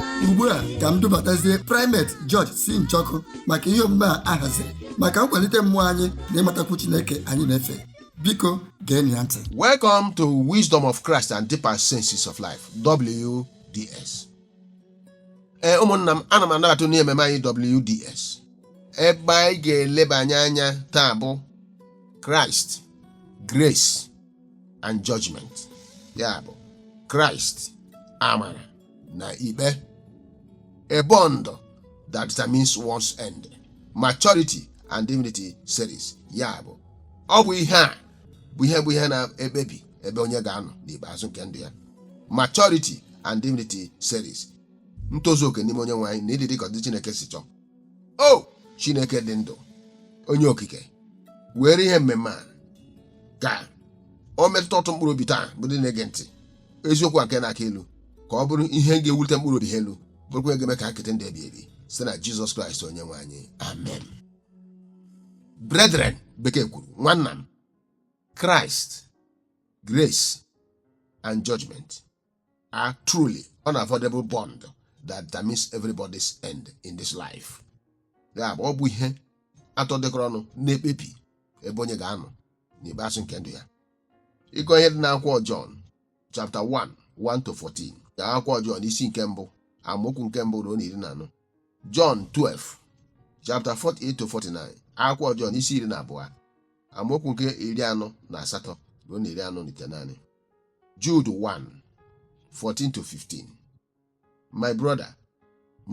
ugbu a ka m dubatazie primate George C. Njọkụ maka ihe omume a ahaziri maka nkwalite mmụọ anyị na ịmatakwu Chineke anyị na-efe biko geenụ ya ntị Welcome to Wisdom of Christ and Deeper Senses of Life, WDS. Ee, ụmụnna m, ana m anabata unu n'ememe anyị WDS. Ebe anyị ga-elebanye anya taa bụ Christ, Grace and Judgment. Ya bụ, Christ, Amara na ikpe a bond that determines one's end maturity and divinity series ya bụ ọ bụ ihe a bụ ihe bụ ihe na-ekpebi ebe onye ga-anọ n'ikpeazụ nke ndụ ya maturity and divinity series ntozu oke n'ime onye nwe anyị na ịdị dịka ụdị chineke si chọọ o chineke dị ndụ onye okike were ihe mmemme a ka o metụta ọtụtụ mkpụrụ obi taa bụ ndị na-ege ntị eziokwu a nke na-aka elu ka ọ bụrụ ihe ga-ewulite mkpụrụ obi ha elu bụrụkwa ihe ga-eme ka ha kete ndụ ebi ebi site na jizọs kraịst onye nwe anyị amen brethren bekee kwuru nwanna m Christ grace and judgment are truly unavoidable bond that determines everybody's end in this life ya bụ ọ bụ ihe atọ dịkọrọ ọnụ na-ekpebi ebe onye ga-anọ n'ikpeazụ nke ndụ ya ị gụọ ihe dị n'akwụkwọ Jọn chapter 1 1 to 14 na akwụkwọ Jọn isi nke mbụ amaokwu nke mbụ ruo na iri na anọ Jọn 12 chapter 48 to 49 akwụkwọ Jọn isi iri na abụọ amaokwu nke iri anọ na asatọ ruo na iri anọ na itenaanị Jude 1 14 to 15 my brother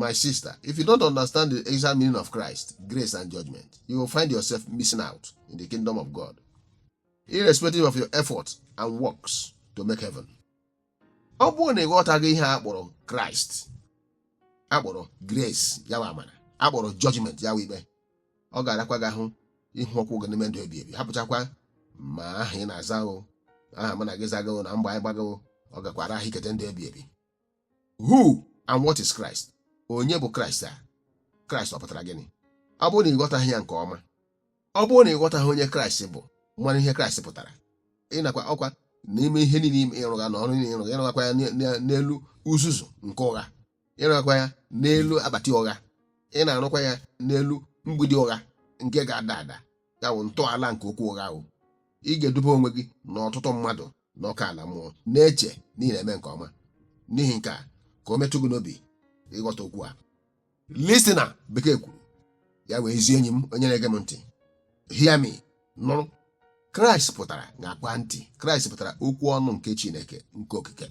my sister if you don't understand the exact meaning of Christ grace and judgment you will find yourself missing out in the kingdom of God irrespective of your effort and works to make heaven. ọ bụrụ na ị ghọtaghị ihe a kpọrọ kraịst a kpọrọ grace ya wụ amara a kpọrọ judgment ya wụ ikpe ọ ga-arakwa gị ahụ ịhụ ụkwụ gị n'ime ndụ ebi ebi hapụchakwa ma aha ị na-aza o aha mụ na gị zaga o na mgba anyị gbaga o ọ gakwa ara ahụ ikete ndụ ebi ebi who and what is Christ onye bụ Kraịst a Kraịst ọ pụtara gịnị ọ bụrụ na ị ghọtaghị ya nke ọma ọ bụrụ na ị ghọtaghị onye Kraịst bụ mara ihe Kraịst pụtara ịnakwa ọkwa n'ime ihe niile ị rụgha na ọrụ niile ị rụgha ị rụghakwa ya n'elu uzuzu nke ụgha ị rụghakwa ya n'elu akpati ụgha ị na-arụkwa ya n'elu mgbidi ụgha nke ga-ada ada ya bụ ntọala nke okwu ụgha ahụ ị ga-edube onwe gị na ọtụtụ mmadụ n'ọkụ ala mmụọ na-eche na ị na-eme nke ọma n'ihi nke a ka o metụ gị n'obi ịghọta okwu a listener bekee kwuru ya wụ ezi enyi m onye na-ege m ntị hear me nụrụ kraịst pụtara ṅakwa ntị kraịst pụtara okwu ọnụ nke chineke nke okike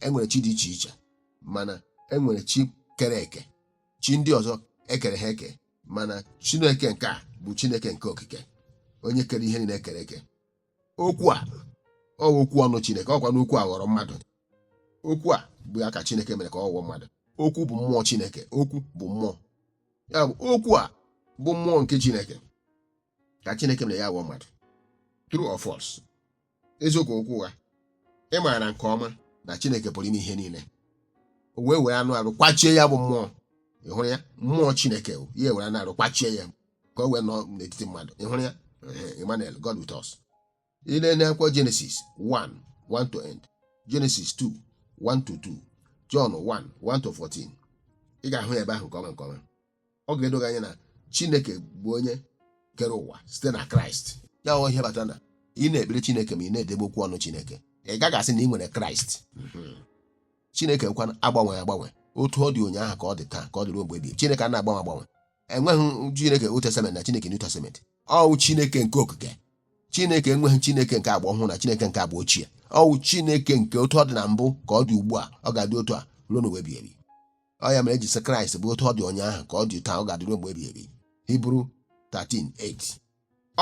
enwere chi dị iche iche mana enwere chi kere eke chi ndị ọzọ ekere ha eke mana chineke nke a bụ chineke nke okike onye kere ihe niile ekere eke okwu a ọ bụ okwu ọnụ chineke ọkwa na okwu a ghọrọ mmadụ okwu a bụ ya ka chineke mere ka ọ ghọọ mmadụ okwu bụ mmụọ chineke okwu bụ mmụọ ya bụ okwu a bụ mmụọ nke chineke ka chineke mere ya ghọọ mmadụ true or false eziokwu ka okwu ụgha ị maara nke ọma na chineke pụrụ ime ihe niile o wee were anụ arụ kwachie ya bụ mmụọ ị hụrụ ya mmụọ chineke o, ya ewere anụ arụ kwachie ya ka o wee nọ n'etiti mmadụ ị hụrụ ya Ehe, Emmanuel God with us ị lee n'akwụkwọ Genesis 1 1 to end Genesis 2 1 to 2 John 1 1 to 14 ị ga-ahụ ya ebe ahụ nke ọma nke ọma ọ ga-edo gị anya na Chineke bụ onye kere ụwa site na Kraịst ya wụ ihe kpatara na ị na-ekpere Chineke ma ị naghị edebe okwu ọnụ Chineke ị gaghị asị na ị nwere Kraịst Mhm. Chineke kwa anaghị agbanwe agbanwe otu ọ dị ụnyaahụ ka ọ dị taa ka ọ dị ruo mgbe ebighị ebi. Chineke anaghị agbanwe agbanwe enweghị chineke old testament na chineke new testament ọ wụ chineke nke okike chineke enweghị chineke nke agba ọhụrụ na chineke nke agba ochie ọ wụ chineke nke otu ọ dị na mbụ ka ọ dị ugbu a ọ ga-adị otu a ruo n'ụwa ebighị ebi ọ ya mere eji sị kraịst bụ otu ọ dị ụnyaahụ ka ọ dị taa ọ ga-adị ruo mgbe ebighị ebi hibru 13:8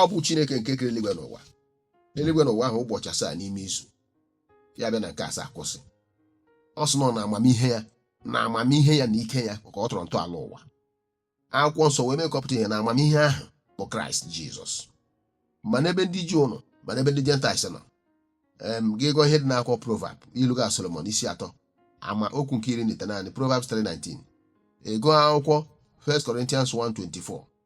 ọ bụ Chineke nke kere eluigwe na ụwa eluigwe na ụwa ahụ ụbọchị asaa n'ime izu ya bịa na nke asaa kwụsị ọ sị nọ na amamihe ya na amamihe ya na ike ya ka ọ tọrọ ntọala ụwa akwụkwọ nsọ wee mee ka ọ pụta ihe na amamihe ahụ bụ kraịst jizọs ma n'ebe ndị juu nọ ma n'ebe ndị gentiles nọ em gị gụọ ihe dị n'akwụkwọ proverb ilu ga solomon isi atọ amaokwu nke iri na itenaanị proverbs 3:19 ị gụọ akwụkwọ 1 Corinthians 1:24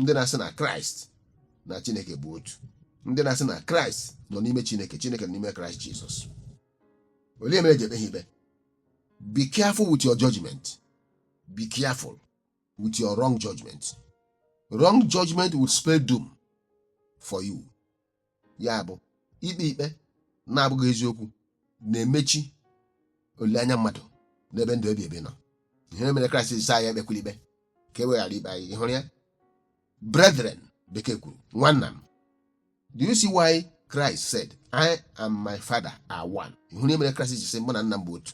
ndị na-asị na kraịst na chineke bụ otu ndị na-asị na kraịst nọ n'ime chineke chineke nọ n'ime kraịst jizọs olee mere eji ekpe ha ikpe be careful with your judgment be careful with your wrong judgment wrong judgment will spell doom for you ya bụ ikpe ikpe na-abụghị eziokwu na-emechi olileanya mmadụ n'ebe ndụ ebi ebi nọ ihe mere kraịst ji sị anyị ekpekwala ikpe ka e wee ghara ikpe anyị ị hụrụ ya brethren bekee kwuru nwanna m do you see why christ said i and my father are one ị hụrụ ihe mere kraịst ji sị mụ na nna m bụ otu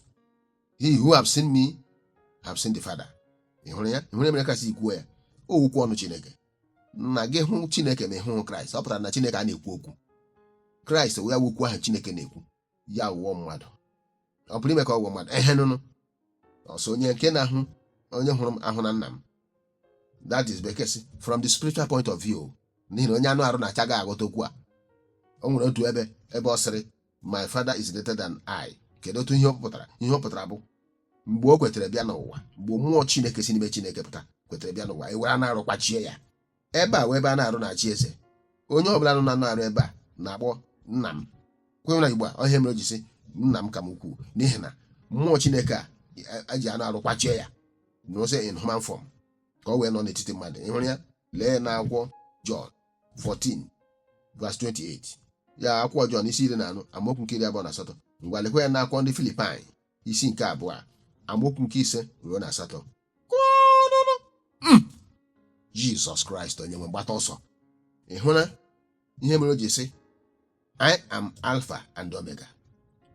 he who have seen me have seen the father ị hụrụ ya ị hụrụ ihe mere kraịst ji kwuo ya ọ wụ okwu ọnụ chineke na gị hụ chineke ma ị hụghị kraịst ọ pụtara na chineke a na-ekwu okwu kraịst wee wụ okwu ahụ chineke na-ekwu ya wụọ mmadụ ọ pụrụ ime ka ọ wụọ mmadụ ehe nụnụ ọ sị onye nke na-ahụ onye hụrụ m ahụna nna m that is bekee sị from the spiritual point of view n'ihi na onye anụ arụ anachaghị aghọta okwu a o nwere otu ebe ebe ọ sịrị my father is greater than I kedu otu ihe ọ pụtara ihe ọ pụtara bụ mgbe o kwetere bịa n'ụwa mgbe mmụọ Chineke si n'ime Chineke pụta kwetere bịa n'ụwa e were anụ arụ kwachie ya ebe a wụ ebe anụ arụ na-achị eze onye ọ bụla nọ na anụ arụ ebe a na-akpọ nna m kwenye na igbo a ihe mere o ji sị nna m ka m ukwuu n'ihi na mmụọ Chineke a e ji anụ arụ kwachie ya nọzi in human form ka o wee nọ n'etiti mmadụ ị hụrụ ya lee na akwụkwọ Jọn 14 verse 28 ya akwụkwọ Jọn isi iri na anọ amaokwu nke iri abụọ na asatọ ngwa lekwa ya na akwụkwọ ndị Filipaị isi nke abụọ amaokwu nke ise ruo na asatọ Jizọs Kraịst onye nwe m gbata ọsọ ị hụla ihe mere o ji sị I am Alpha and Omega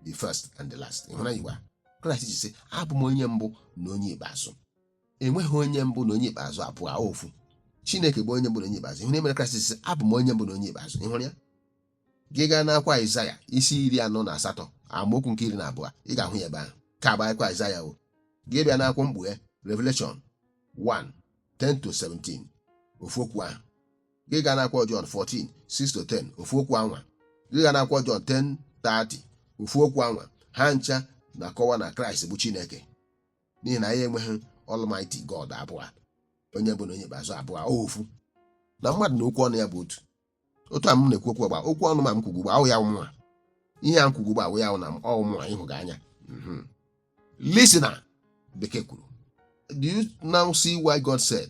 the first and the last ị hụla ihe Kraịst ji sị abụ m onye mbụ na onye ikpeazụ enweghị onye mbụ na onye ikpeazụ abụọ ofu chineke bụ onye mbụ na onye ikpeazụ ihe mere kraịst ji sị abụ m onye mbụ na onye ikpeazụ ị hụrụ ya gị gaa n'akwa aịzaya isi iri anọ na asatọ amaokwu nke iri na abụọ ị ga-ahụ ya ebe ahụ ka bụ akwa aịzaya o gị bịa n'akwụkwọ mkpughe revelation 1 10 to 17 ofu okwu ahụ gị gaa n'akwụkwọ John 14 6 to 10 ofu okwu anwa gị gaa n'akwụkwọ John 10 30 ofu okwu anwa ha ncha na-akọwa na kraịst bụ chineke n'ihi na anyị enweghị Almighty God abụọ onye mbụ na onye ikpeazụ abụọ ofu na mmadụ na okwu ọnụ ya bụ otu otu a m na-ekwu okwu ugbu a okwu ọnụ m a m kwuga ugbu a wụ ya wụ mụnwa ihe a m kwuga ugbu a wụ ya na ọ wụ mụnwa ị hụga anya mhm. listen na bekee kwuru do you now see why God said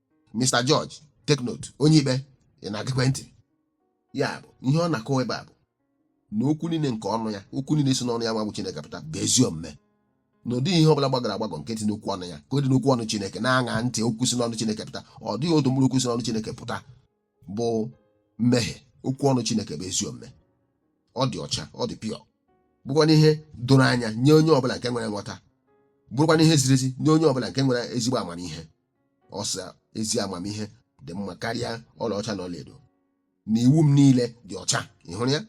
Mr. George take note onye ikpe ị na-egekwa ntị ya bụ ihe ọ na-akọwa ebe a bụ na okwu niile nke ọnụ ya okwu niile si n'ọnụ ya nwa bụ Chineke pụta bụ ezi omume na ọ dịghị ihe ọbụla gbagọrọ agbagọ nke dị n'okwu ọnụ ya ka ọ dị n'okwu ọnụ Chineke na-aṅa ntị okwu si n'ọnụ Chineke pụta ọ dịghị otu mkpụrụ okwu si n'ọnụ Chineke pụta bụ mmehie okwu ọnụ Chineke bụ ezi omume ọ dị ọcha ọ dị pure bụkwanụ ihe doro anya nye onye ọbụla nke nwere nghọta bụrụkwanụ ihe ziri ezi nye onye ọbụla nke nwere ezigbo amamihe ọ sị ezi amamihe dị mma karịa ọlaọcha na ọlaedo na iwu m niile dị ọcha ị hụrụ ya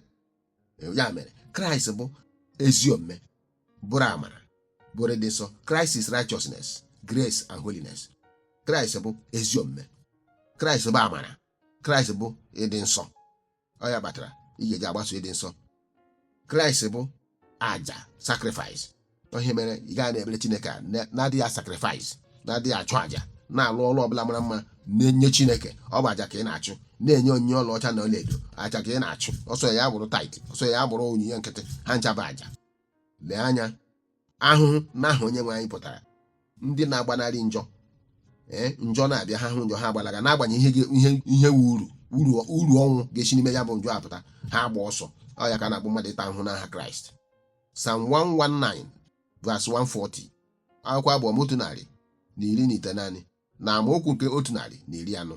ya mere kraịst bụ ezi omume bụrụ amara bụrụ ịdị nsọ Christ is righteousness grace and holiness kraịst bụ ezi omume kraịst bụ amara kraịst bụ ịdị nsọ ọ ya kpatara ị ga-eji agbaso ịdị nsọ kraịst bụ aja sakrifis ihe mere ị ga na-ekpere chineke a na- na-adịghị ya sakrifis na-adịghị achụ aja na-alụ ọrụ ọbụla mara mma na-enye chineke ọ bụ aja ka ị na-achụ na-enye onyinye ọlaọcha na ọlaedo aja ka ị na-achụ ọ sọ ya bụrụ tait ọ sọ ya bụrụ onyinye nkịtị ha ncha bụ aja lee anya ahụhụ n'aha onye nwe anyị pụtara ndị na-agbanarị njọ ee njọ na-abịa ha hụ njọ ha agbalaga n'agbanyeghị ihe ga- ihe ihe wu uru uru uru ọnwụ ga-esi n'ime ya bụ njọ apụta ha agba ọsọ ọ ya ka a na-akpọ mmadụ ịta ahụhụ n'aha kraịst sam 119 vas 140 akwụkwọ abụ ọma otu narị na iri na itenaanị na amaokwu nke otu narị na iri anọ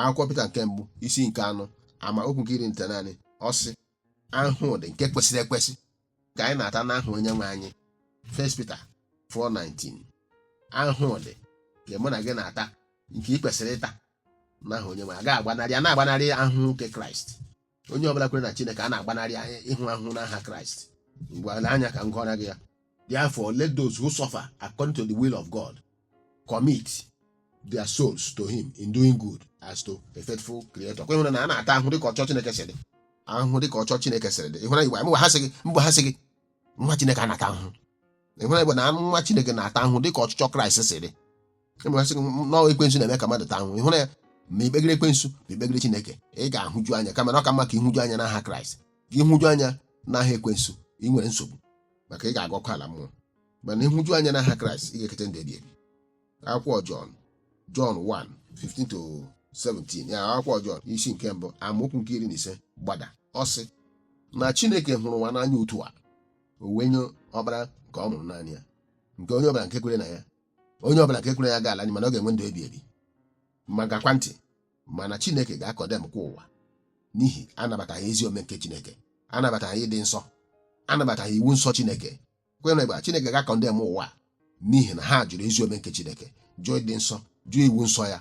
akwụkwọ pita nke mbụ isi nke anọ amaokwu nke iri na itenaanị ọ sị ahụhụ ụdị nke kwesịrị ekwesị ka anyị na-ata n'aha onye nwe anyị First Peter 4:19 ahụhụ ụdị nke mụ na gị na-ata nke ị kwesịrị ịta n'aha onye nwe anyị a ga-agbanarị a na-agbanarị ahụhụ nke Kraịst onye ọbụla kwere na chineke a na-agbanarị ịhụ ahụhụ n'aha kraịst ngwa n'anya ka m gụọra gị ya therefore let those who suffer according to the will of god commit their souls to him in doing good as to a faithful creator ọkwa ị hụrụ na a na-ata ahụhụ dịka ọchọ chineke siri dị ahụhụ dịka ọchọ chineke siri dị ị hụra ya ugbu a mgbe ha sị gị mgbe ha sị gị nwa chineke a na-ata ahụhụ ị hụra ya ugbu a na nwa chineke na-ata ahụhụ dịka ọchịchọ kraịst siri mgbe a sị gị na ọ ekwensu na-eme ka mmadụ taa ahụhụ ị hụrụ ya ma i kpegere ekwensu ma i kpegere chineke ị ga-ahụju anya kama na ọ ka mma ka ịhụju anya n'aha kraịst gị hụju anya n'aha ekwensu ị nwere nsogbu maka ị ga-aga ọkụ ala mmụọ mana ịhụju anya n'aha kraịst ị ga-ekete ndụ ebi ebi akwụkwọ jọn jọn 1 15 to 17 ya akwụkwọ jọn isi nke mbụ amaokwu nke iri na ise gbada ọ sị na chineke hụrụ ụwa n'anya otu a o wee nye ọkpara nke ọ mụrụ naanị ya nke onye ọbụla nke kwere na ya onye ọbụla nke kwere na ya agaghị ala n'iyi mana ọ ga-enwe ndụ ebi ebi ma geekwa ntị mana chineke ga-akọndemkwa ụwa n'ihi anabataghị ezi omume nke chineke anabataghị ịdị nsọ anabataghị iwu nsọ chineke ọkwa ị hụrụ ya ugbu a chineke ga-akọndem ụwa n'ihi na ha jụrụ ezi omume nke chineke jụọ ịdị nsọ jụọ iwu nsọ ya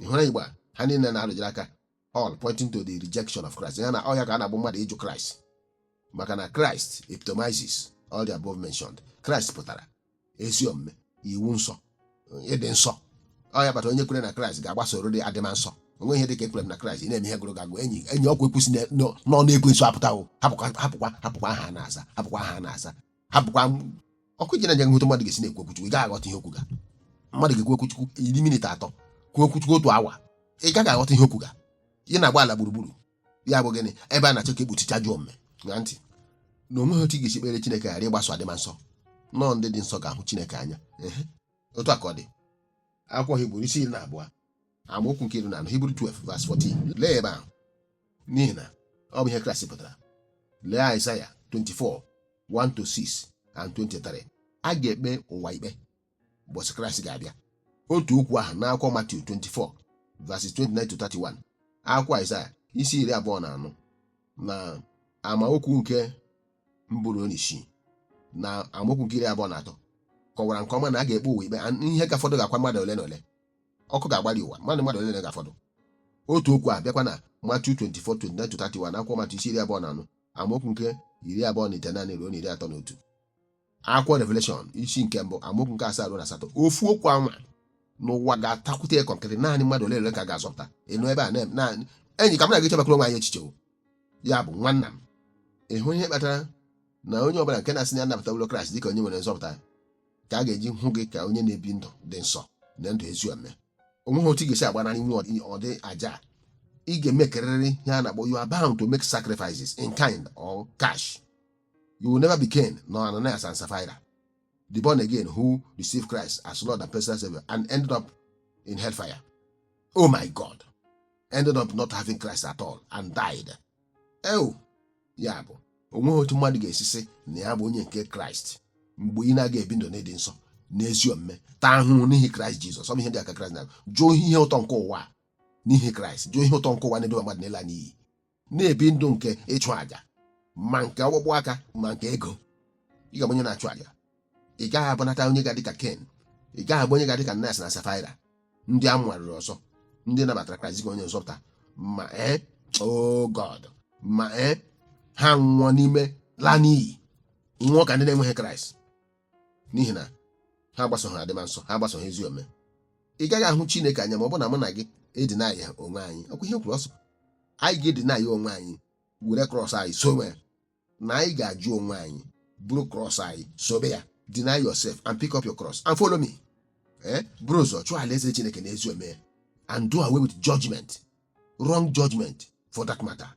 ị hụrụ ya ugbu a ha niile na-arụjere aka all pointing to the rejection of Christ ya na ọ ya ka a na-akpọ mmadụ ịjụ Christ maka na Christ epitomizes all the above mentioned Christ pụtara ezi omume iwu nsọ ịdị nsọ ọ ya kpata onye kwere na kraịst ga-agbasorịrị adịma nsọ o nweghị ihe dị ka ekwere m na kraịst ị na-eme ihe gụrụ gị agụụ enyi enyi ọkwa ekwusi n'ọnụ ekwensu apụtawo hapụkwa hapụkwa hapụkwa aha a na-aza hapụkwa aha a na-aza hapụkwa m- ọkụ ije na-enye nhụta mmadụ ga-esi na-ekwu okwu chukwu ị gaghị aghọta ihe o kwuga mmadụ ga-ekwu okwu chukwu iri minit atọ kwuo okwu chukwu otu awa ị gaghị aghọta ihe o kwuga ị na-agba ala gburugburu ya bụ gịnị ebe a na-achọ ka e kpuchie ajọ omume ṅaa ntị na o nweghị otu ị ga-esi kpere chineke ghara ịgbaso adịma nsọ na ọ ndị dị nsọ ga-ahụ chineke anya Ehe. otu a ka ọ dị akwụkwọ hibru isi iri na abụọ amaokwu nke iri na anọ Hibru 12 vas 14 lee ebe ahụ n'ihi na ọ bụ ihe Kraịst pụtara lee Aịzaya 24 1 to 6 and 23 a ga-ekpe ụwa ikpe ụbọchị Kraịst ga-abịa otu okwu ahụ n'akwụkwọ Matiu 24 verses 29 to 31 akwụkwọ Aịzaya isi iri abụọ na anọ na amaokwu nke mbụ ruo n'isii na amaokwu nke iri abụọ na atọ kọwara nke ọma na a ga-ekpe ụwa ikpe ihe ga-afọdụ ga-akwa mmadụ ole na ole ọkụ ga-agbali ụwa mmadụ mmadụ ole ga-afọdụ otu okwu a bịakwa na matiu 24 na akwụkwọ matiu isi iri abụọ na anọ amaokwu nke iri abụọ na itenaanị ruo na iri atọ na otu akwụkwọ revelation isi nke mbụ amaokwu nke asaa ruo na asatọ ofu okwu anwa n'ụwa ga-atakwute ya kọnkịtị naanị mmadụ ole ole ka a ga-azọpụta ịnụ ebe a naanị enyi ka m na-aga echebakọrọ onwe anyị echiche ya bụ nwanna m ịhụ ihe kpatara na onye ọbụla nke na-asị na ya nabatawo kraịst dịka onye nwere nzọpụta ka a ga-eji hụ gị ka onye na-ebi ndụ dị nsọ na ndụ ezi omume o nweghị otu ị ga-esi agbanarị inwe ụdị ụdị àjà a. ị ga-emekerịrị ihe a na-akpọ you are bound to make sacrifices in kind or cash you will never be Cain nor Ananias and Sapphira the born again who received Christ as Lord and personal Savior and ended up in hellfire oh my God ended up not having Christ at all and died eu ya bụ onweghị otu mmadụ ga-esi sị na ya bụ onye nke kraịst mgbe ị na-aga ebi ndụ n'ịdị nsọ n'ezi omume taa ahụhụ n'ihi kraịst jizọs ọ bụ ihe dị aka kraịst na jụọ ihe ụtọ nke ụwa a n'ihi kraịst jụọ ihe ụtọ nke ụwa na-eduba mmadụ n'ịla n'iyi na-ebi ndụ nke ịchụ àjà ma nke ọkpụkpụ aka ma nke ego ị ga-abụ onye na-achụ àjà ị gaghị abụnata onye ga-adị ka ken ị gaghị abụ onye ga-adị ka ananayas na safaira ndị a mụgharịrị ọzọ ndị nabatara kraịst dịka onye nzọpụta ma ee oh god ma ee ha nwụọ n'ime ịla n'iyi nwụọ ka ndị na-enweghị kraịst n'ihi na ha agbasoghị adịma nsọ ha agbasoghị ezi omume ị gaghị ahụ chineke anya ma ọ bụ na mụ na gị e-deny-a onwe anyị ọkwa ihe o kwuru ọ sị anyị ga-e-deny-a onwe anyị were krọs anyị sowe na anyị ga-ajụ onwe anyị buru cross anyị sobe ya deny yourself and pick up your cross and follow me ee buru ụzọ chụọ alaeze chineke na ezi omume and do away with judgment wrong judgment for that matter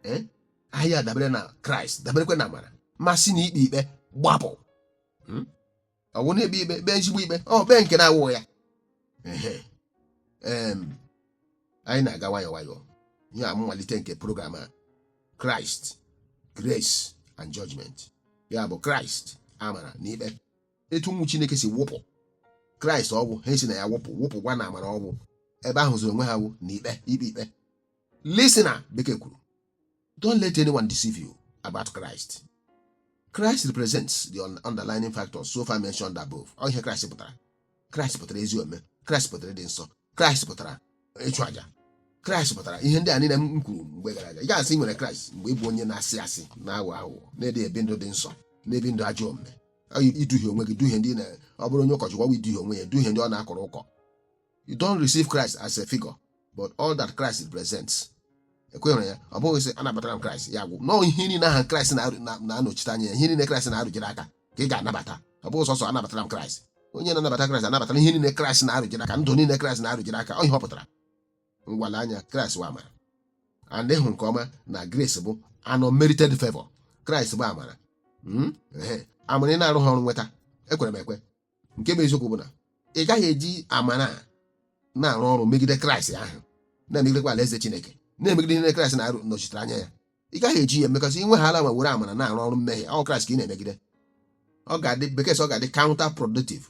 ee anyị adabere na kraịst daberekwa na amara ma si na ikpe ikpe gbapụ ọ bụ na-ekpe ikpe kpee ezigbo ikpe ọ kpee nke na-awụ ya Ehe. Em, anyị na-aga nwayọọ nwayọọ ihe a mmalite nke program a christ grace and judgment ya bụ kraịst amara na ikpe etu ụmụ chineke si wụpụ kraịst ọ bụ ha si na ya wụpụ wụpụkwa na amara ọ wụ ebe ha hụzịrị onwe ha wụ na ikpe ikpe ikpe listener bekee kwuru Don't let anyone deceive you about Christ. Christ represents the underlining factors so far mentioned above. Ọ ihe Christ pụtara. Christ pụtara ezi omume. Christ pụtara ịdị nsọ. Christ pụtara ịchụ aja. Christ pụtara ihe ndị a niile m kwuru mgbe gara aga. Ị ga-asị i nwere Christ mgbe ị bụ onye na-asị asị na-aghọ aghụghọ na-adịghị ebi ndụ dị nsọ na-ebi ndụ ajọ omume. Ọ yi- Iduhie onwe gị duhie ndị na ọ bụrụ onye ụkọchukwu ọ bụ iduhie onwe ya duhie ndị ọ na-akọrọ ụkọ you don't receive Christ as a figure but all that Christ represents ekwenyere ya ọ bụghị sị anabatara m Christ ya agwụ no ihe niile aha Christ na-anọchite anya ya ihe niile Christ na-arụjere aka ka ị ga-anabata ọ bụghị sọsọ anabatara m Christ onye na-anabata Christ anabatara ihe niile Christ na-arụjere aka ndụ niile Christ na-arụjere aka ọ ihe ọ pụtara ngwa lee anya Christ bụ amara and ị hụ nke ọma na grace bụ an unmerited favor Christ bụ amara hmm? amara ị na-arụha ọrụ nweta ekwere m ekwe nke bụ eziokwu bụ na ị gaghị eji amara na-arụ ọrụ megide kraịst ahụ na-emegidekwa alaeze chineke na-emegide ihe kraịst na-anọchitere anya ya ị gaghị eji ya emekọsị inwe ha ala ma were amara na-arụ ọrụ mmehie ọ kraịst ka ị na-emegide ọ ga-adị bekee sị ọ ga-adị counter productive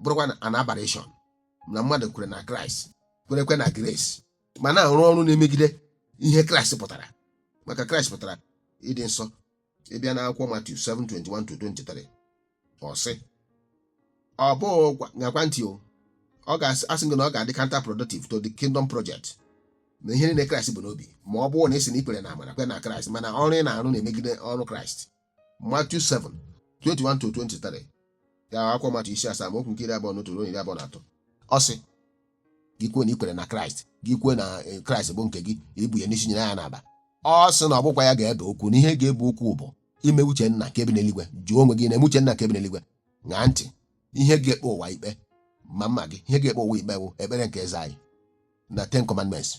bụrụkwa an aberration na mmadụ kwere na kraịst kwerekwa na grace ma na-arụ ọrụ na-emegide ihe kraịst pụtara maka kraịst pụtara ịdị nsọ ị bịa n'akwụkwọ Matiu 7:21-23 ọ sị ọ bụ ṅaakwa ntị o ọ ga-asị gị na ọ ga-adị counter productive to the kingdom project na ihe niile kraịst bu n'obi ma ọ bụrụ na ị sị na i kwere na amara kwe na kraịst mana ọrụ ị na-arụ na-emegide ọrụ kraịst Matiu 7 21-23 gaa akwụkwọ Matiu isi asaa amaokwu nke iri abụọ na otu ruo iri abụọ na atọ ọ sị gị kwuo na i kwere na kraịst gị kwuo na eh, kraịst bụ nke gị i bu ya n'isi nyere ya n'aba ọ sị na ọ bụghịkwa ya ga-ebe okwu na ihe ga-ebe okwu bụ ime uche nna nke bi n'eluigwe jụọ onwe gị ị na-eme uche nna nke bi n'eluigwe ṅaa ntị ihe ga-ekpe ụwa ikpe ma mụ ma gị ihe ga-ekpe ụwa ikpe bụ ekpere nke eze anyị na ten commandments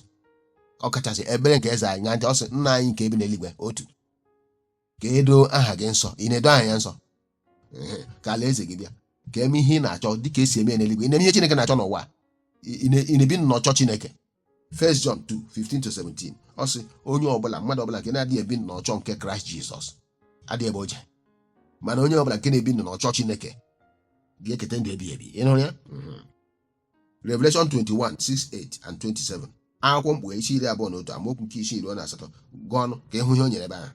ọ kachasị ekpere nke eze anyị ṅaa ntị ọ sị nna anyị nke bi n'eluigwe otu ka e doo aha gị nsọ ị na-edo aha ya nsọ Ehe, ka alaeze gị bịa ka e mee ihe ị na-achọ dịka e si eme ya n'eluigwe ị na-eme ihe Chineke na-achọ n'ụwa a. Ị- ị na- ị na-ebi n'ọchịchọ Chineke First John 2 15 to 17 ọ sị onye ọbụla mmadụ ọbụla nke na-adịghị ebi n'ọchịchọ nke Kraịst Jizọs adịghị ebe o je mana onye ọbụla nke na-ebi n'ọchịchọ Chineke ga-eketa ndụ ebighị ebi ị nụrụ ya Mhm. Revelation 21 6 8 and 27 akwụkwọ mkpughe isi iri abụọ na otu amaokwu nke isii ruo na asatọ gụọnụ ka ị hụ ihe o nyere ebe ahụ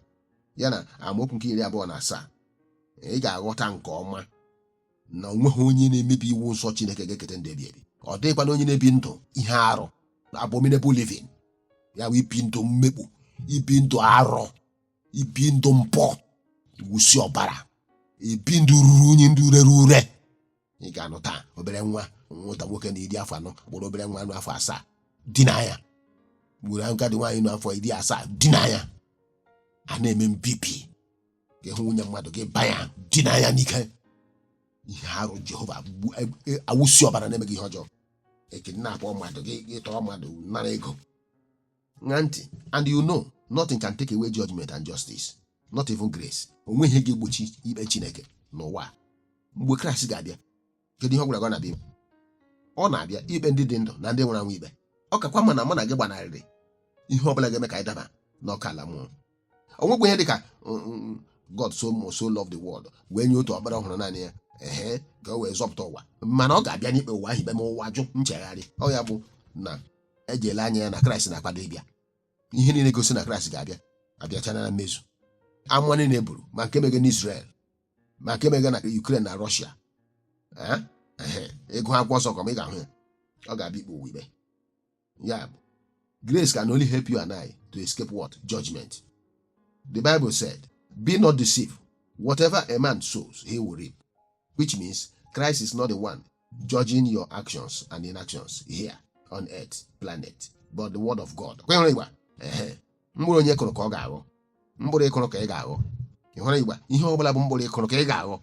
ya na amaokwu nke iri abụọ na asaa ị ga-aghọta nke ọma na o nweghị onye na-emebi iwu nsọ Chineke ga-eketa ndụ ebighị ebi ọ dịghịkwanụ onye na-ebi ndụ ihe arụ abominable living ya bụ ibi ndụ mmekpu ibi ndụ arụ ibi ndụ mpụ ịwụsị ọbara ibi ndụ ruru unyi ndụ rere ure ị ga-anụ taa obere nwa nwata nwoke nọ iri afọ anọ buru obere nwa nọ afọ asaa dinaa ya buru agadi nwaanyị nọ afọ iri asaa dinaa ya a na-eme mbibi gị hụ nwunye mmadụ gị ba ya dinaa ya n'ike ihe arụ jehova gbu- e- e- awụsi ọbara na-emeghị ihe ọjọọ e kidnapụ mmadụ gị gị tọrọ mmadụ nara ego ṅaa ntị and you know nothing can take away judgment and justice not even grace o nweghị ihe ga-egbochi ikpe chineke n'ụwa a. mgbe kraịst ga-abịa kedu ihe ọ gwara gị ọ na-abịa ime? ọ na-abịa ikpe ndị dị ndụ na ndị nwụrụ anwụ ikpe ọ kakwa mma na mụ na gị gbanarịrị ihe ọ bụla ga-eme ka anyị daba n'ọkụ ala mmụọ o nwekwa ihe dịka God so much so love the world wee nye otu ọkpara ọ hụrụ naanị ya ehe ka o wee zọpụta ụwa mana ọ ga-abịa n'ikpe ụwa ahụ ikpe ma ụwa jụ nchegharị ọ ya bụ na e ji ele anya ya na kraịst na-akwado ịbịa ihe niile gosi na kraịst ga-abịa abịachana na mmezu amụma niile e buru ma nke mege na Israel ma nke mege na Ukraine na Russia ị gụọ akwụkwọ nsọ nke ọma ị ga-ahụ ya ọ ga-abịa ikpe ụwa ikpe ya bụ grace can only help you and I to escape what judgment the Bible said be not deceived whatever a man sows he will reap which means Christ is not the one judging your actions and inactions here on earth planet but the word of God kwenyere igba ehe mkpụrụ onye kụrụ ka ọ ga-aghọ mkpụrụ ị kụrụ ka ị ga-aghọ ị hụrụ igba ihe ọ bụla bụ mkpụrụ ị kụrụ ka ị ga-aghọ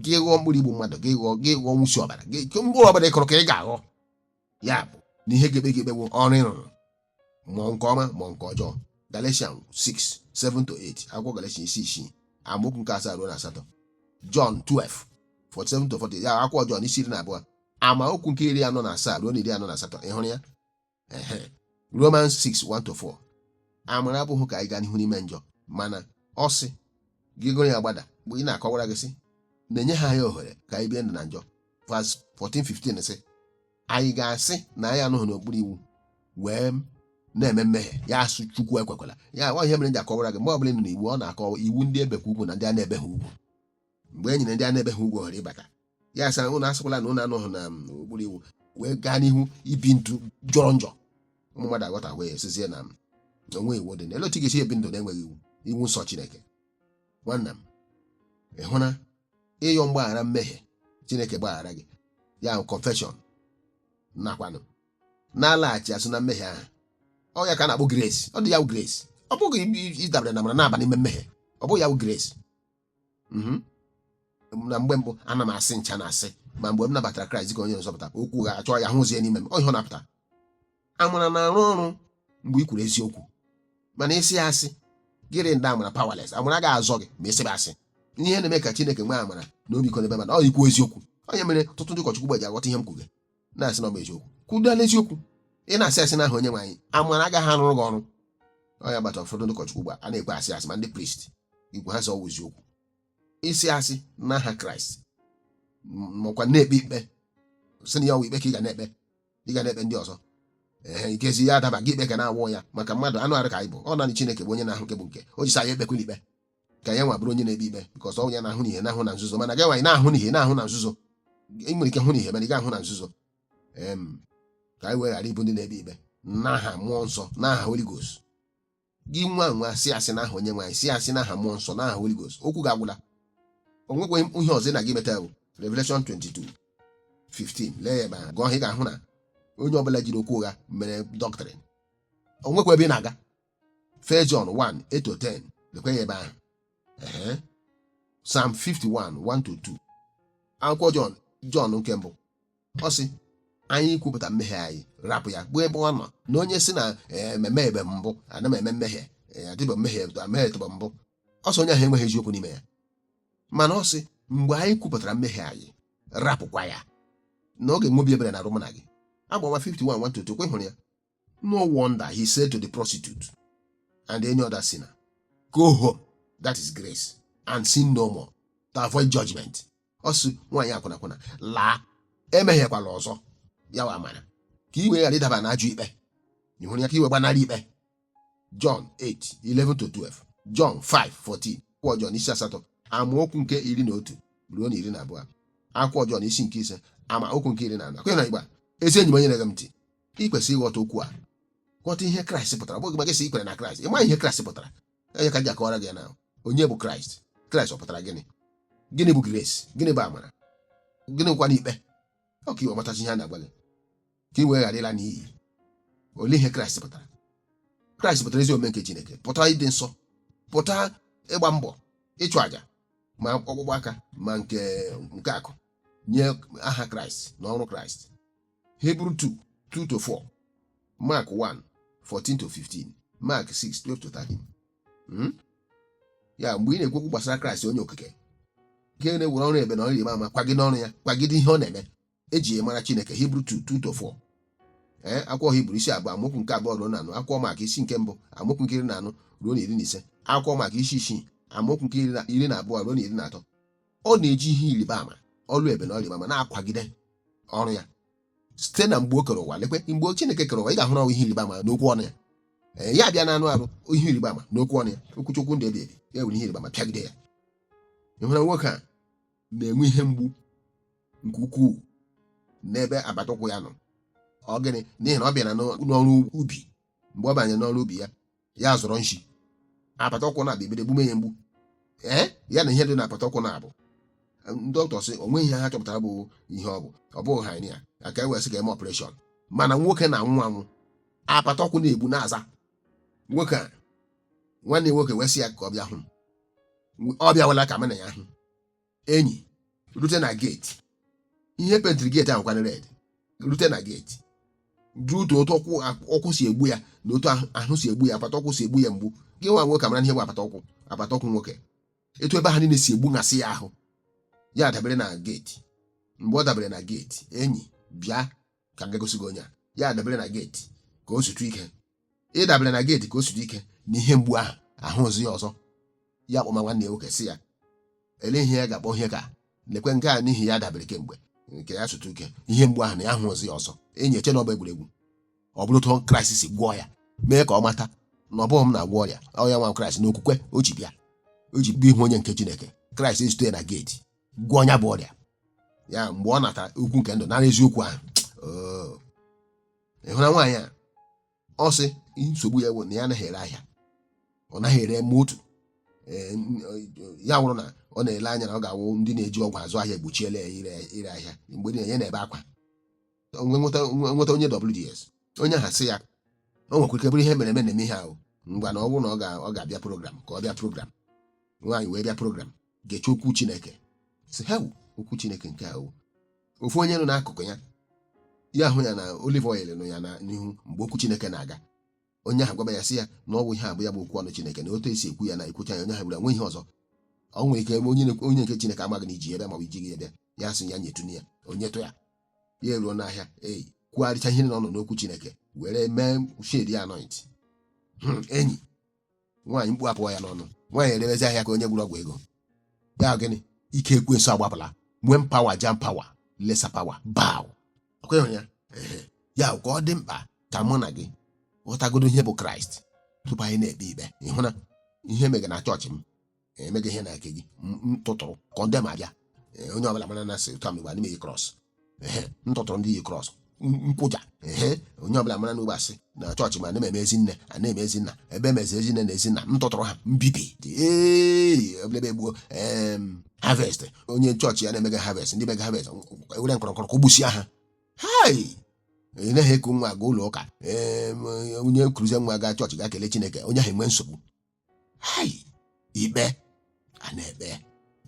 gị ghọọ mkpụrụ igbu mmadụ gị ghọọ gị ghọọ nwụsi ọbara gị mkpụrụ ọ bụla ị kụrụ ka ị ga-aghọ ya bụ na ihe ga-ekpe gị ikpe bụ ọrụ ị rụrụ ma nke ọma ma nke ọjọọ galatian 6 7 to 8 akwụkwọ galatian isi isii amaokwu nke asaa ruo na asatọ jọn 12 47 to 48 akwụkwọ jọn isi iri na abụọ amaokwu nke iri anọ na asaa ruo na iri anọ na asatọ ị hụrụ ya ehe romans 6 1 to 4 amara abụghị ka anyị gaa n'ihu n'ime njọ mana ọ sị gị gụrụ ya gbada mgbe ị na-akọwara gị sị na enyeghị anyị ohere ka anyị bie ndụ na njọ verse 14:15 sị anyị ga-asị na anyị anọghị n'okpuru iwu wee na-eme mmehie ya asị chukwu ekwekwala ya ọ ihe mere m ji akọwara gị mgbe ọbụla ị nọ n'iwu ọ na-akọwa iwu ndị ebekwa ugwu na ndị a na-ebeghị ugwu mgbe e nyere ndị a na-ebeghị ugwu ohere ịbata ya asị ụnụ asịkwala na ụnụ anọghị na um, okpuru iwu wee gaa n'ihu ibi ndụ jọrọ njọ ụmụ mmadụ aghọta wee sịzie na um, o nweghị iwu dịnụ elee otu ị ga-esi ebi ndụ na-enweghị iwu iwu nsọ chineke nwanna m ị hụ na ịyọ mgbaghara mmehie chineke gbaghara gị ya bụ confession nọkwanụ na-alaghachi azụ na mmehie ahụ ọ ya ka a na-akpọ grace ọ dị ya bụ grace ọ bụghị i- ịdabere na amara na-aba n'ime mmehie ọ bụghị ya bụ grace Mhm. na mgbe mbụ ana m asị ncha na asị ma mgbe m nabatara kraịst dịka onye nzọpụta okwu ụgha a chọọ ya hụzie n'ime m ọ ihe ọ na-apụta amara na-arụ ọrụ mgbe i kwuru eziokwu mana ị sị asị gị render amara powerless amara ga azọ gị ma ị sịbe asị ihe na-eme ka chineke nwee amara na ọmịiko n'ebe mmadụ nọ ikwu eziokwu ọ ya mere ọtụtụ ndị ụkọchukwu gbaji aghọta ihe m kwuge na-asị na ọ bụ eziokwu kwudala eziokwu ị na-asị asị n'aha onye nwe anyị amara agaghị arụrụ gị ọrụ ọ ya kpata ụfọdụ ndị ụkọchukwu ugbu a na-ekwe asị asị ma ndị priest igwe ha sọ ọwụ eziokwu ị sị asị n'aha kraịst makwa na-ekpe ikpe sị na ya ọwụ ikpe ka ị ga na-ekpe ị ga na-ekpe ndị ọzọ ee ikpezi ya adaba gị ikpe ka na-awụ ya maka mmadụ anụ arụ ka anyị bụ ọ naanị Chineke bụ onye na-ahụ nke bụ nke o ji sị anyị ekpekwala ikpe ka ya nwa bụrụ onye na-ekpe ikpe because ọ ya na-ahụ n'ihe na-ahụ na nzuzo mana gị nwa anaghị ahụ n'ihe na-ahụ na nzuzo ị nwere ike hụ n'ihe mana ị ga-ahụ na nzuzo em ka anyị wee ghara ịbụ ndị na-ekpe ikpe n'aha mmụọ nsọ n'aha Holy Ghost gị nwa wee sị asị n'aha onye nwe anyị sị asị n'aha mmụọ nsọ n'aha Holy Ghost okwu gị agwụla o nwekwaghị ihe ọzọ ị na-aga imeta bụ Revelation 22 15 lee ya ebe ahụ gụọ ị ga-ahụ na onye ọbụla jiri okwu ụgha mere dọktrịn o nwekwa ebe ị na-aga First John 1 8 to 10 lekwa ya ebe ahụ Ehe. Psalm 51 1 to 2 akwụkwọ John John nke mbụ ọ sị anyị kwupụta mmehie anyị rapụ ya bụ ebe ọ nọ na onye sị na emehiebe mbụ ana m eme mmehie adịbe m emehietụbe mbụ ọ sị onye ahụ enweghị eziokwu n'ime ya mana ọ sị mgbe anyị kwupụtara mmehie anyị rapụkwa ya na ọ ga-enwe obi ebere n'arụ mụ na gị abụ ọma 51 1 to 2 kwa ị hụrụ ya No wonder he said to the prostitute and any other sinner, Go home, that is grace, and sin no more, to avoid judgment. Ọ sị nwaanyị akwụna akwụna laa emehiekwala ọzọ ya wụ amara ka ị wee ghara ịdaba na ajọ ikpe ị hụrụ ya ka ị wee gbanarị ikpe John 8 11 to 12 John 5 14 akwụkwọ John isi asatọ amaokwu nke iri na otu ruo na iri na abụọ akwụkwọ John isi nke ise amaokwu nke iri na anọ akwenye na Igbo ezi enyi m onye na-ege m ntị ị kwesịrị ịghọta okwu a ghọta ihe kraịst pụtara mgbe gị sị i kwere na kraịst ị ma ihe kraịst pụtara ọ ya ka e ji akọwara gị na onye bụ kraịst kraịst ọ pụtara gịnị gịnị bụ grace gịnị bụ amara gịnị bụkwanụ ikpe ọ ka ị wee matazie ihe a na-agwa gị ka ị wee ghara ịla n'iyi olee ihe kraịst pụtara kraịst pụtara ezi omume nke chineke pụtara ịdị nsọ pụta ịgba mbọ ịchụ àjà ma ọkpụkpụ aka ma nke nke akụ nye aha kraịst na ọrụ kraịst Hebrew 2 2 to 4 Mark 1 14 to 15 Mark 6 12 to 13 Hmm? ya mgbe ị na-ekwu okwu gbasara kraịst onye okike nke na-ewere ọrụ ebube na ọrụ ịrịba ama kwagide ọrụ ya kwagide ihe ọ na-eme eji ya mara chineke Hebrew 2 2 to 4 ee akwụkwọ hibru isi abụọ amaokwu nke abụọ ruo na anọ akwụkwọ Mak isi nke mbụ amaokwu nke iri na anọ ruo na iri na ise akwụkwọ Mak isi isii amaokwu nke iri na- iri na abụọ ruo na iri na atọ ọ na-eji ihe ịrịba ama ọrụ ebube na ịrịba ama na-akwagide ọrụ ya site na mgbe o kere ụwa lekwe mgbe Chineke kere ụwa ị ga-ahụrụ ọ wụ ihe ịrịba ama n'okwu ọnụ ya ee ya abịa na anụ arụ ihe ịrịba ama n'okwu ọnụ ya okwu chukwu ndụ ebi ebi ya were ihe ịrịba ama pịagide ya ị hụrụ nwoke a na-enwe ihe mgbu nke ukwuu n'ebe agbata ụkwụ ya nọ ọ gịnị n'ihi na ọ bịara n'ọrụ ubi mgbe ọ banyere n'ọrụ ubi ya ya zọrọ nshi apata ụkwụ na-abịa ebido egbume ya mgbu ee ya na ihe dị na apata ụkwụ na-abụ dọkịta sị o nweghị ihe ha chọpụtara bụ ihe ọ bụ ọ bụghị hernia a ka e wee sị ka e mee operation mana nwoke na-anwụ anwụ apata ụkwụ na-egbu na-aza nwoke a nwanne ya nwoke wee sị ya ka ọ bịa hụ m ọ bịawala ka mụ na ya hụ enyi rute na geeti ihe e pentịrị geeti ahụ kwa na red rute na geeti due to otu ụkwụ si egbu ya na otu ahụ- ahụ si egbu ya apata ụkwụ si egbu ya mgbu gị nwa nwoke amara ihe bụ apata ụkwụ apata ụkwụ nwoke etu ebe ahụ niile si egbu ngasị ya ahụ ya dabere na geeti mgbe ọ dabere na geeti enyi bịa ka m ga-egosi gị onye a ya adabere na geeti ka o zutụ ike ịdabere na geeti ka o zutụ ike na ihe mgbu ahụ ahụzi ya ọzọ ya kpọma nwanne ya nwoke sị ya ele ihe ya ga-akpọ ihe ka lekwe nke a n'ihi ya dabere kemgbe nke ya zutụ ike ihe mgbu ahụ na ya ahụzi ya ọzọ enyi eche na ọ bụ egwuregwu ọ bụrụ otu kraịst si gwọọ ya mee ka ọ mata na ọ bụghị m na-agwọ ọrịa ọ ya nwa kraịst na okwukwe o ji bịa o ji bịa ihu onye nke chineke kraịst ezute ya na geeti gwọọ ya bụ ọrịa ya mgbe ọ natara okwu nke ndụ nara eziokwu ahụ oo. ị hụra nwaanyị a ọ sị nsogbu ya bụ na ya anaghị ere ahịa ọ naghị ere ma otu Ee, n- ọ- ya wụrụ na ọ na-ele anya na ọ ga-awụ ndị na-eji ọgwụ azụ ahịa egbochiela ya ire ire ahịa mgbe niile ya na-ebe akwa o wee nweta nweta onye WDS onye ahụ sị ya o nwekwara ike bụrụ ihe e mere eme na-eme ihe ahụ ngwa na ọ bụrụ na ọ ga- ọ ga-abịa program ka ọ bịa program nwaanyị wee bịa program geche okwu chineke si ha okwu chineke nke ahụ ofu onye nọ n'akụkụ ya ya hụ ya na olive oil nọ ya na- n'ihu mgbe okwu chineke na-aga onye ahụ gwaba ya sị ya na ọ bụ ihe a bụ ya bụ okwu ọnụ chineke na otu e si ekwu ya na e kwucha ya onye ahụ bụrụ nwe ihe ọzọ ọ nwere ike onye na- onye nke chineke amaghị na i ji ya bịa ma ọ bụ i jighị ya bịa ya sị ya nyetụ ya o nyetụ ya ya eruo n'ahịa enyi kwugharịcha ihe niile ọ nụ n'okwu chineke were mee shedi anoint Hmm, enyi nwaanyị mkpu apụọ ya n'ọnụ nwaanyị erewezi ahịa ka onye gwọrọ ọgwụ ego ya gịnị ike ekwensu agbapụla when power jam power lesser power bow ọ kwa ị hụrụ ya Ehe. ya ka ọ dị mkpa ka mụ na gị ghọtagodo ihe bụ kraịst tupu anyị na-ekpe ikpe ị hụ na ihe mega na chọọchị m emega ihe na nke gị ntụtụrụ kọndem abịa Ee, onye ọbụla mara na sị ụta mgbe anyị na-eyi krọs ehe ntụtụrụ ndị yi krọs nkwụja ehe onye ọbụla mara na ugbo asị na chọọchị ma a na-eme ezi nne a na-eme ezi nna ebe emezi ezi nne na ezi nna ntụtụrụ ha mbibi dị ee eblebe gbuo em harvest onye chọọchị ya na-emega harvest ndị mega harvest ewere nkọrọnkọrọ kọgbusia ha hai ị naghị eku nwa aga ụlọ ụka ee onye kuruzie nwa gaa chọọchị gaa kelee chineke onye ahụ enwee nsogbu hai ikpe a na-ekpe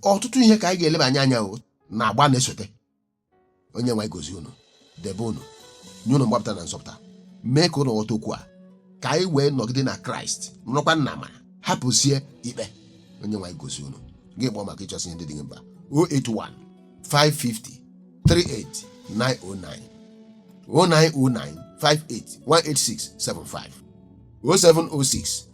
ọtụtụ ihe ka anyị ga-eleba anya o n'agba na-esote onye nwe gọzie unu debe unu nye unu mgbapụta na nzọpụta mee ka unu ghọta okwu a ka anyị wee nọgide na kraịst nọrọkwa n'amara hapụzie ikpe onye nwe gọzie unu gị kpọọ maka ịchọsị ihe ndị dị gị mkpa 081 550 38909 0909 58 186 75 0706